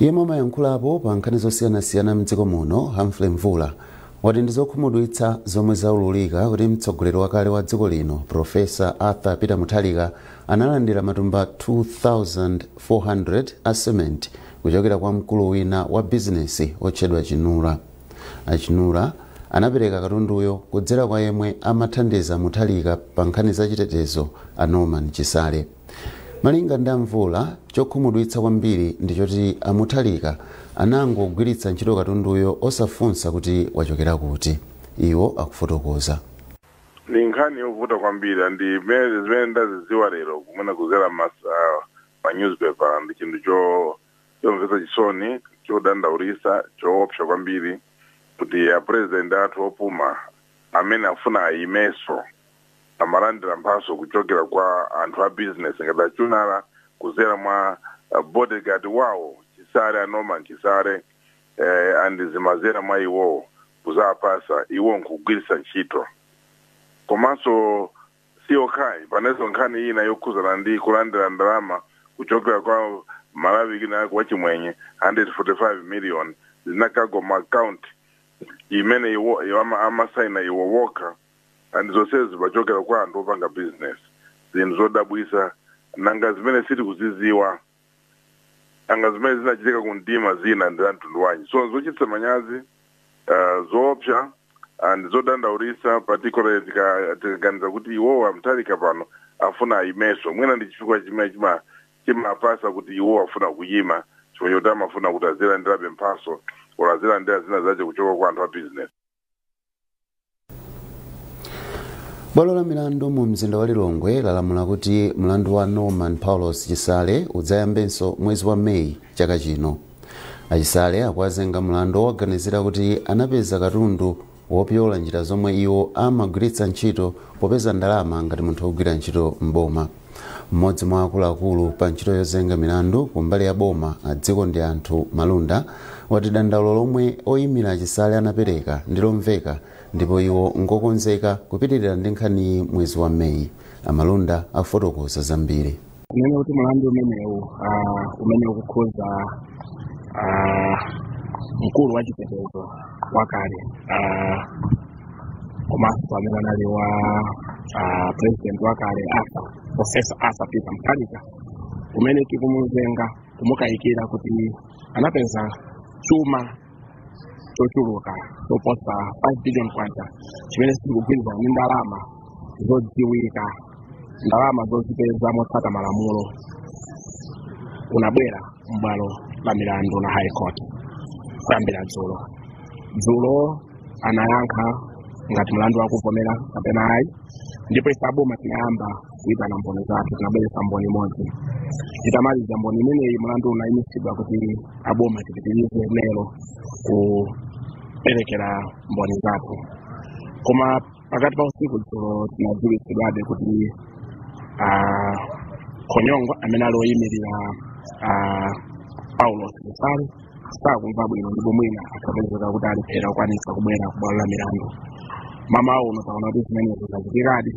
yemwe amayankhulapo pa nkhani zosiyanasiyana mdziko muno humphrey mvula wati ndi zokhumudwitsa zomwe zaululika kuti mtsogoleri wakale wa dziko lino profesa arthur peter mutharika analandira matumba 2400 a cement kuchokera kwa mkulu wina wa bizinesi otchedwa chinura achinura anapereka katunduyo kudzera kwa yemwe amathandiza mutharika pa nkhani za chitetezo a norman chisale Malinga ndi a Mvula, chokhumudwitsa kwambiri ndi choti a Mutharika anangogwiritsa ntchito katunduyo osafunsa kuti wachokera kuti. Iwo akufotokoza. Ndi nkhani yovuta kwambiri and mene zimene ndaziziwa lero kumene kuzera mas uh, ma newspaper ndi chinthu cho chomvesa chisoni chodandaulisa choopsa kwambiri kuti a president athu opuma amene afuna ayimeso amalandira mphatso kuchokera kwa anthu a business ngati achunala kuzera mwa uh, bodyguard wawo chisale a Norman chisale eh, and zimazera mwa iwowo kuzapasa iwo nkugwiritsa ntchito komanso si okhayi panenso nkhani ina yokhuzana ndi kulandira ndalama kuchokera kwa malawi kina kwa chimwenye 145 million zinakalowa mu account imene iwo iwo ama- amasaina iwo okha and zonsezi zimachokera kwa anthu opanga business zinthu zodabwisa nanga zimene sitikuziziwa nanga zimene zinachitika ku mdima zina ndi za mtundu wanji so zochitisa manyazi uh, zoopsa and zodandaulisa particularly tika- tikaganiza kuti iwowa Mutharika pano afuna ayimeso mwina ndi chifukwa chimene chima- chimapasa kuti iwo afuna kuyima chifukwa choti amafuna kuti azilandirabe mphaso or azilandira zina zace kuchoka kwa anthu a business bwalo la milandu mu mzinda wa lilongwe lalamula kuti mlandu wa norman paulos chisale udzayambenso mwezi wa meyi chaka chino achisale akuwazenga mlandu wowaganizira kuti anapeza katundu wopyola njira zomwe iwo amagwiritsa ntchito popeza ndalama ngati munthu wogwira ntchito m'boma Mmodzi mwa akuluakulu pa ntchito yozenga milandu ku mbali ya boma a Dzikondianthu Malunda wati dandaulo lomwe oyimira achisale anapereka ndi lomveka ndipo iwo ngokonzeka kupitirira ndi nkhaniyi mwezi wa May. A Malunda afotokoza zambiri. Kunena kuti mlandu umenewu ah, umene ukukhuza ah, mkulu wa chitetezo wakale ah, komanso amene anali wa ah, president wakale Arthur profesa Arthur peter mutharika umene tikumuzenga kumukayikira kuti anapeza chuma chochuluka choposa 5 billion kwacha chimene sichikugwirizana ndi ndalama zodziwika ndalama zozipeza motsata malamulo unabwera m'bwalo la milandu la high court kuyambira dzulo dzulo anayankha ngati mlandu akuvomera kapena ayi ndipo ife aboma tinayamba kuitana mboni zathu tinabweretsa mboni imodzi titamaliza mboni imeneyi mlandu unayimitsidwa kuti aboma tipitirize lero kuperekera mboni zathu koma pakati pa usiku dzulo tinadziwitsidwabe kuti ah, Khonyongwa amene ali oyimirira ah, Paulos Chisale sakumva bwino ndipo mwina akapezeka kuti alephera kukwanitsa kubwera ku bwalo la milandu mamawa uno taona kuti zimenezo zachitikadi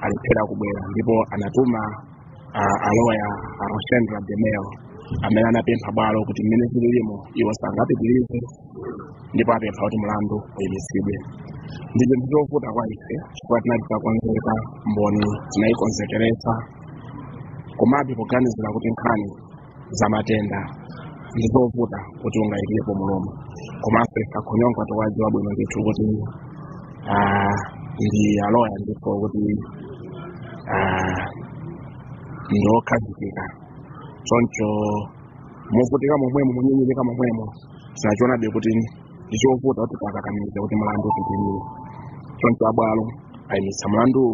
alephera kubwera ndipo anatuma a- aloya a roshendra demel amene anapempha bwalo kuti mmene zililimo iwo sangapitirize ndipo apempha kuti mlandu uyimitsidwe ndi chinthu chovuta kwa ife chifukwa tinali titakonzeka mboni tinayikonzekeretsa komabe poganizira kuti nkhani za matenda ndi zovuta kuti ungayikepo mulomo komanso a Khonyongwa tikuwadziwa bwino ndithu kuti ah, ndi aloya ndipo kuti ah, ndi okhazikika choncho movutika momwemo monyinyirika momwemo tinachionabe kuti ndi chovuta kuti tikakamize kuti mlandu upitirire choncho abwalo ayimitsa mlanduwu